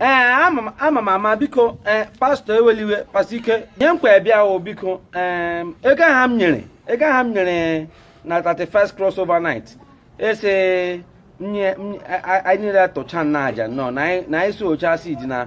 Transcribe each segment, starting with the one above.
ee eh, ama m ama biko ee eh, pastọ ewela iwe pastọ ike nye nkwa ebịa o biko ee eh, ego ahụ m nyere ego ahụ m nyere na 31st cross over night ị sị anyị niile tụcha na aja nọ na anyị si ocha si dị na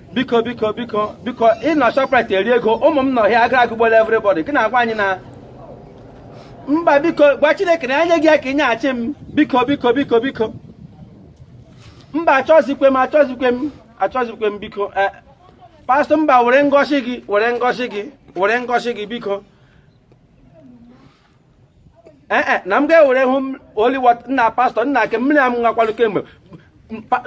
biko biko biko biko ị nọ Shoprite eri ego ụmụ m nọ here agụrụ agụgbuola everybody gị na-agwa anyị na mba biko gwa Chineke na-enye gị ya ka ị nyeghachi m biko biko biko biko mba achọzikwe m achọzikwe m achọzikwe m biko eh, pastọ mba were ngọzi gị were ngọzi gị were ngọzi gị biko ee eh, eh, na m ga-ewere holy water nna pastọ nna nke mmiri a m ṅụkwalụ kemgbe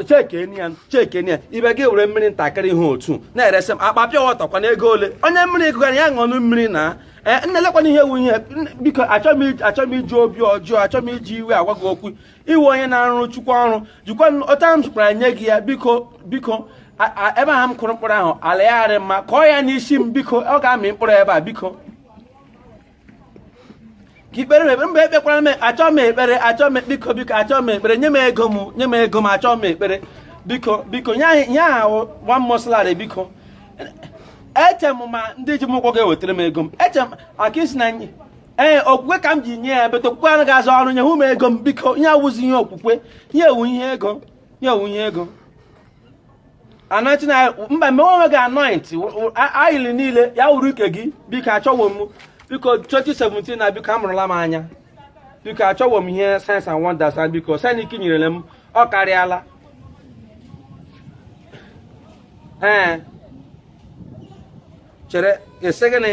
chekeni ya chekeni ya ibe gị were mmiri ntakịrị ihe otu a na-eresị m akpa pure water kwanụ ego ole onye mmiri gụgara ya ṅụọnụ mmiri na eh, nna lekwanụ ihe wụ ihe biko achọọ m iji obi ọjọọ achọọ m iji iwe agwa gị okwu ị wụ onye na-arụrụ Chukwu ọrụ jikwa ọta m zụkwara nye gị ya biko biko ebe ahụ m kụrụ mkpụrụ ahụ ala ya arị mma kọọ ya n'isi m biko ọ ga-amị mkpụrụ ebe a biko ka i kpeere m ekpere mba ekpekwara m achọọ m ekpere achọọ m biko biko achọọ m ekpere nye m ego m nye m ego m achọọ m ekpere biko biko nye anyị nye ahụ one month salary biko eche m ma ndị ji m ụgwọ ga-ewetara m ego m eche m ka ị sị na ee okwukwe ka m ji nye ya but okwukwe anaghị arụ ọrụ nyenụ m ego m biko ihe a awụzi ihe okwukwe ihe a wụ ihe ego ihe a wụ ihe ego anointing oil mba mee onwe gị anoint oil niile ya wụrụ nke gị biko achọwo m biko 2017 nna biko amụrụla m anya biko achọwo m ihe signs and wonders nna biko Chineke nyerele m ọ karịala ee chere ị sị gịnị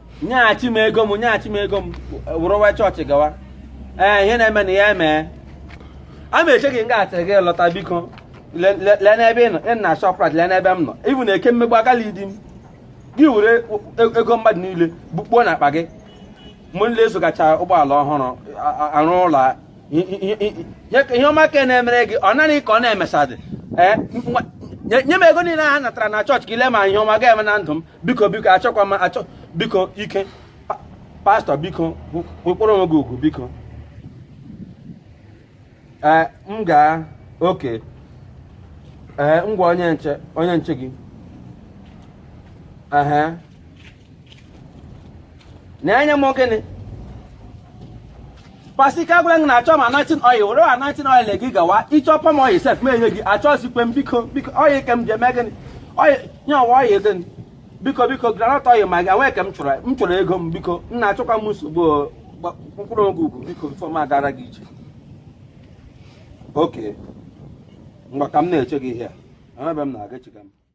nyeghachi m ego m nyeghachi m ego m wụrụwa chọọchị gawa ee ihe na-eme na ya emee a ma eche gị nga atịrị gị lọta biko le- le- lee n'ebe ị nọ ị na Shoprite lee n'ebe m nọ ibu na eke mmegbu agala idi m gị were e- ego mmadụ niile bukpuo n'akpa gị mụ nle azụgacha ụgbọala ọhụrụ a- a- arụ ụlọ a- i- i- i- i- nye ka ihe ọma ka na-emere gị ọ naghị ka ọ na-emesadị ee nwa- nye nye m ego niile ha natara na chọọchị ka ị lee ma ihe ọma ga-eme na ndụ m biko biko achọkwa m achọ biko ike pastọ biko wekpọrọ onwe gị ugwu biko ee m gaa okay ee ngwa onye nche onye nche gị ehe na-enye m gịnị Pastor Ike gwara na achọ m anointing oil were anointing oil gị gawa ị chọ palm oil sef m enye gị achọzikwe m biko biko oil ke m ji eme gịnị oil nye ọwa oil gịnị biko biko groundnut oil ma gị enwee ka m chọrọ m chọrọ ego m biko nna achọkwa m nsogbu mkpụrụ oge ugwu biko before m agara gị ije oke mgbe ka m na-eche gị ihe a ebe m na-aga echiga m